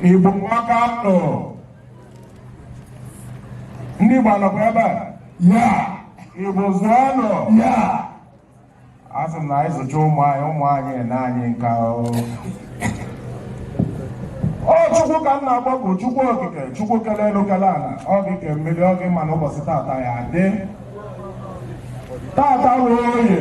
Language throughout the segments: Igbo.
Igbo maka nọ ndị Igbo anọkwa ebe a ya Igbo zụọ nọ ya a sị na anyị zụcha ụmụ anyị ụmụ anyị nee anyị nka ọ chukwu ka m na-akpọku chukwu okike chukwu kele elu kele ala ọ gị ke mmiri ọ gị ma na ụbọchị tata ya dị tata wụ oye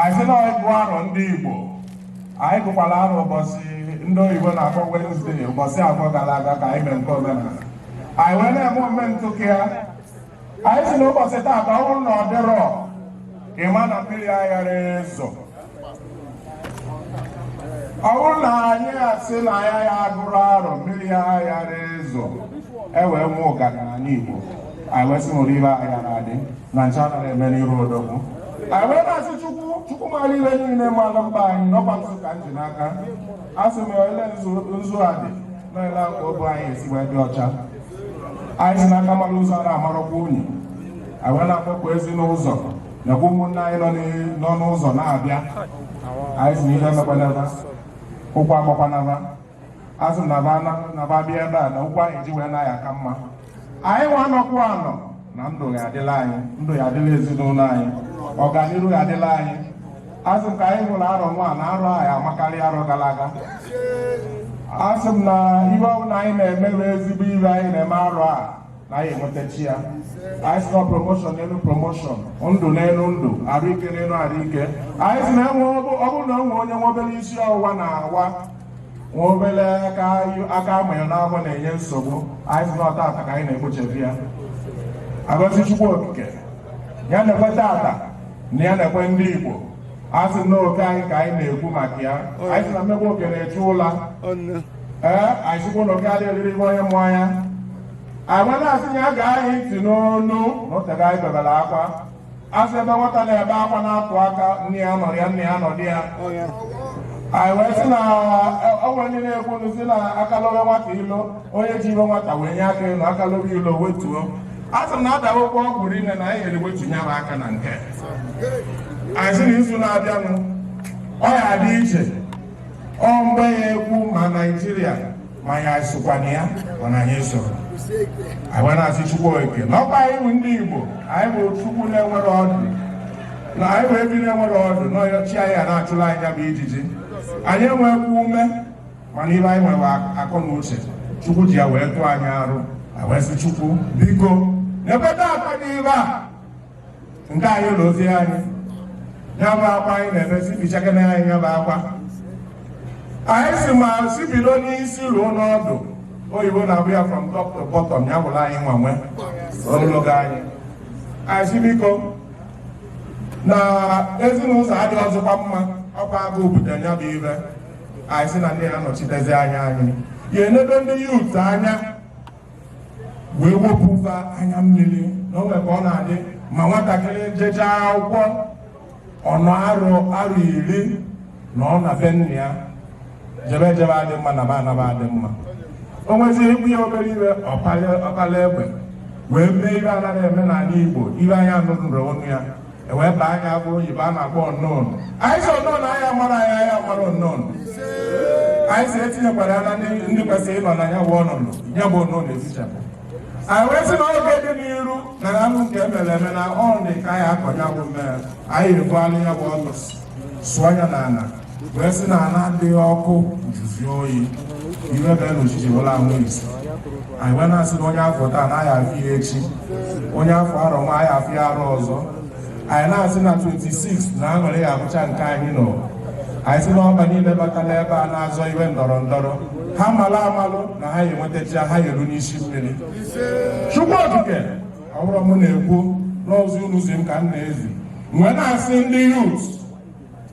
anyị sị na ịgụ arọ ndị Igbo anyị gụkwara arọ ụbọchị ndị oyibo na-akpọ Wednesday ụbọchị abụọ gara aga ka anyị mee nke omenala anyị wee na-eme omume ntụkị ya anyị si n'ụbọchị taa ka ọ bụrụ na ọ dịrọ ịma na mmiri aghara ezo ọ bụrụ na anyị asị na ya ya agụrọ arọ mmiri ya aghara ezo e wee nwee ụganị n'ala Igbo anyị wee sị na olive anyị ya na-adị na nche anaghị eme n'iru odogwu anyị wee na-asị chukwu chukwu mara ihe niile mara mba anyị n'ọkwa nzu ka m ji n'aka a sị m ele nzu nzu a dị na ele a ka obu anyị esi wee dị ọcha anyị si n'aka mara nzu a na-amarakwa unyi anyị wee na-akpọku ezi n'ụzọ nakwa ụmụnne anyị nọ n'i- nọ n'ụzọ na-abịa anyị si n'ihe emekwana ba ụkwụ akpọkwana ba asị m na ba bịa ebe a na ụkwụ anyị ji wee naa ya aka mma anyị nwa nọkwụ anọ na ndụ ya adịlị anyị ndụ ya adịlị ezinụlọ anyị ọganihu ya adịlị anyị asị m ka anyị hụrụ arọ nwa na arọ a ya amakarị arọ gara aga asị m na ihe ọbụla anyị na-eme bụ ezigbo ihe anyị na-eme arọ a na anyị enwetacha ya anyị si na promoshọn n'elu promoshọn ndụ n'elu ndụ arụ ike n'elu arụ ike anyị si na enwe ọ bụrụ na e nwee onye nwe obere isi ọwụwa na-awa nwa obere aka amanye n'ahụ na-enye nsogbu anyị si na ọ tata ka anyị na-ekpochebi ya agọzi chukwu okike ya na-ekwe tata na ya na-ekwe ndị igbo a sị na oke anyị ka anyị na-ekwu maka ya anyị si na mmegbu oke na-echu ụla ee anyị sikwa na oke adịghị eri ihe onye mụ anya anyị wee na-asị na ya gee anyị ntị n'ọnụ na o tego anyị bebere akwa asị ebe nwata na-ebe akwa na-atụ aka nne ya anọrọ ya nna ya anọdụ ya anyị wee sị na o nwe ndị na-ekwu nụ si na aka lobe nwata ilo onye ji ihe nwata wenye aka enu aka lobe ilo o wetuo a sị na adawa ụgwọ ọgwụ rinne na anyị eriwetunye m aka na nke anyị sị na izu na-abịanụ ọ ya adị iche ọ mgbe ya ekwu ma naijiria ma anyị sokwa na ya ma na anyị esoro anyị wee na-asị Chukwu Okike na ọkwa anyị bụ ndị Igbo anyị bụ ọkụkọ na-enwerọ ọdụ na anyị bụ ehi na-enwerọ ọdụ na ọ chi anyị ya na-achụlụ anyị ya bụ ijiji anyị enwekwa ume mana ihe anyị nwere akọ na uche Chukwu ji ya wee tụọ anyị arụ anyị wee sị Chukwu biko na-ekweta akwa n'ibe a nke anyị ụlọ ozi anyị ya bụ akwa anyị na-ebe sị bichakana anyị ya bụ akwa anyị sị ma si bido n'isi ruo n'ọdụ oyibo na-abụ ya from top to bottom ya bụrụ anyị nwanwe ogologo anyị anyị sị biko na ezi na ụzọ adịrọzịkwa mma ọkwa agụụ bute ya bụ ive anyị sị na ndị ya-anọchitezi anya anyị ya-enedo ndị youth anya wee wepụba anya mmiri na o nwe ka ọ na-adị ma nwatakịrị jechaa akwụkwọ ọ nọ arọ arọ iri na ọ na be nna ya jebe ejebe adị mma naba anaba adị mma o nweziri ikwu ya obere ive ọ pala egbe wee mee ive a naghị eme n'ala Igbo ive anya nụrụ ọnụ ya e wee baa ya bụ oyibo a na-akpọ unknown anyị sị unknown anyị amara anyị anyị amara unknown anyị sị e tinyekwara ya na ndị kwesịrị ịnọ na ya bụ ọnọdụ ya bụ unknown ezichapụ anyị wee sị na oge dị n'iru na ya bụ nke e mere eme na ọrụ dị ka anyị akọ ya bụ mmere anyị ebuala ya bụ ọnụ sụọ ya n'ala wee sị na ala adịghị ọkụ juzi oyi ihe bịa n'ọchịchị wela anwụ isi anyị wee na-asị na onye a fụ taa na a ya-afụ ya echi onye a fụ arọ nwa a ya-afụ ya arọ ọzọ anyị na-asị na 26 na aṅụrị ya-abụcha nke anyị nọ anyị sị na ọba niile bata n'ebe a na-azọ ihe ndọrọ ndọrọ ha malụ amalụ na ha ya-enwetacha ha ya-eru n'isi mmiri chukwu okike ọ bụrọ m na-ekwu n'ozi unu zi m ka m na-ezi wee na-asị ndị youth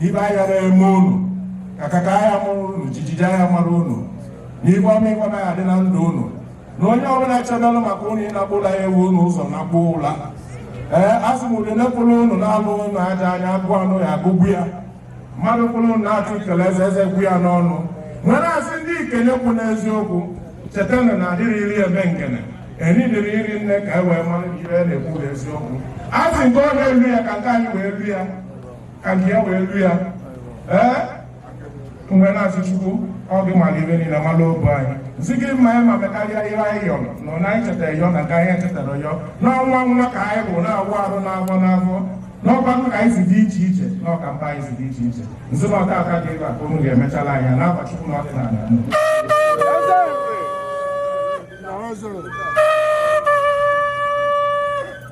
ive a ya na-eme unu kakaka a ya-amara unu jijiji a ya-amara unu na ive ọma ive ọma ya-adị na ndụ unu na onye ọbụla chọdalụ maka unu ịnakpu ụla ya ebu unu ụzọ nakpu ụla ee a sị mmụọ dị nekpụrụ unu na-alụ unu ajọ anya agụụ anụ ya-agụgbu ya mmadụ kwụrụ unu na-ata ikele eze eze gwụ ya n'ọnụ nwere asị ndị ikele kwụ n'eziokwu cheta na na adịrị iri eme nkene enidịrị iri nne ka e wee mara ihe na-ekwu eziokwu a sị nke onye elu ya ka nke anyị wee lu ya ka nke ya wee lu ya ee wee na-asị chukwu ọ gị mara ive niile mara obu anyị sị gị mee ya ma mekarịa ihe anyị yọ nọ na anyị chetara yọ na nke anyị echetarọ yọ n'ọnwa nwa ka anyị bụ na-agụ arọ n'afọ n'afọ n'ọkwa nwa ka anyị si dị iche iche na ọka mba anyị si dị iche iche nzi na ọka aka dị ịba ka unu ga-emechala anya n'akwa chukwu na ọdịnala Eze! Eze!